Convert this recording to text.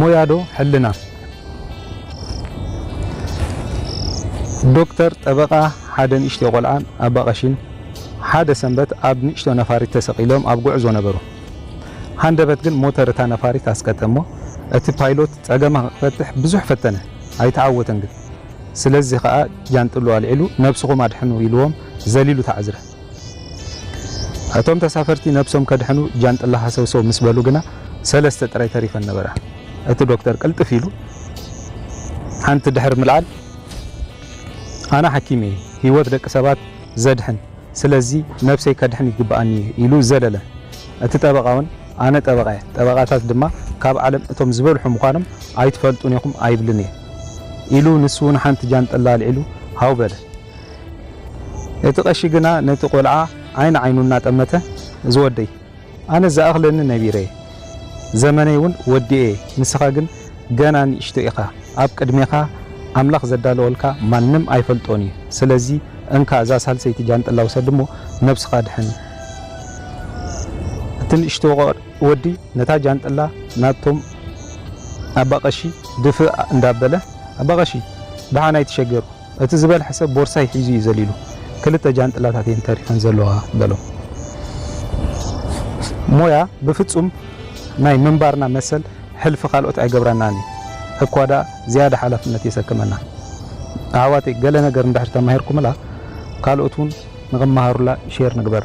ሞያ ዶ ሕልና? ዶክተር፣ ጠበቓ፣ ሓደ ንእሽቶ ቆልዓን ኣባ ቀሺን ሓደ ሰንበት ኣብ ንእሽቶ ነፋሪት ተሰቒሎም ኣብ ጉዕዞ ነበሩ። ሃንደበት ግን ሞተር እታ ነፋሪት ኣስቀጠ እሞ እቲ ፓይሎት ጸገማ ክፈትሕ ብዙሕ ፈተነ፣ ኣይተዓወተን ግን። ስለዚ ከኣ ጃንጥልኡ ኣልዒሉ ነብስኹም ኣድሕኑ ኢልዎም ዘሊሉ ተዓዝረ። እቶም ተሳፈርቲ ነብሶም ከድሕኑ ጃንጥላ ሃሰውሰው ምስ በሉ ግና ሰለስተ ጥራይ ተሪፈን ነበራ። እቲ ዶክተር ቅልጥፍ ኢሉ ሓንቲ ድሕሪ ምልዓል፣ ኣነ ሓኪም እየ፣ ህይወት ደቂ ሰባት ዘድሕን፣ ስለዚ ነብሰይ ከድሕን ይግብኣኒ እዩ ኢሉ ዘለለ። እቲ ጠበቓ'ውን ኣነ ጠበቓ እየ፣ ጠበቓታት ድማ ካብ ዓለም እቶም ዝበልሑ ምዃኖም ኣይትፈልጡን ኢኹም ኣይብልን እየ ኢሉ ንሱ'ውን ሓንቲ ጃንጥላ ኣልዒሉ ሃው በለ። እቲ ቀሺ ግና ነቲ ቆልዓ ዓይኒ ዓይኑ እናጠመተ እዚ ወደይ ኣነስ ዝኣኽለኒ ነቢረ'የ ዘመነይ'ውን ወዲኤ ንስኻ ግን ገና ንእሽቶ ኢኻ ኣብ ቅድሜኻ ኣምላኽ ዘዳለወልካ ማንም ኣይፈልጦን'ዩ ስለዚ እንካ እዛ ሳልሰይቲ ጃንጥላ ውሰድ'ሞ ነብስኻ ኣድሕን እቲ ንእሽቶ ወዲ ነታ ጃንጥላ ናብቶም ኣባ ቀሺ ድፍእ እንዳበለ ኣባ ቀሺ ደሓን ኣይትሸገሩ እቲ ዝበልሐ ሰብ ቦርሳይ ሒዙ እዩ ዘሊሉ። ክልተ ጃንጥላታት እየን ተሪፈን ዘለዋ በሎም። ሞያ ብፍጹም ናይ ምንባርና መሰል ሕልፊ ካልኦት ኣይገብረናን እዩ፣ እኳ ደኣ ዝያዳ ሓላፍነት የሰክመና። ኣሕዋተይ ገለ ነገር እንድሕር ተማሂርኩምላ ካልኦት እውን ንኽመሃሩላ ሼር ንግበራ።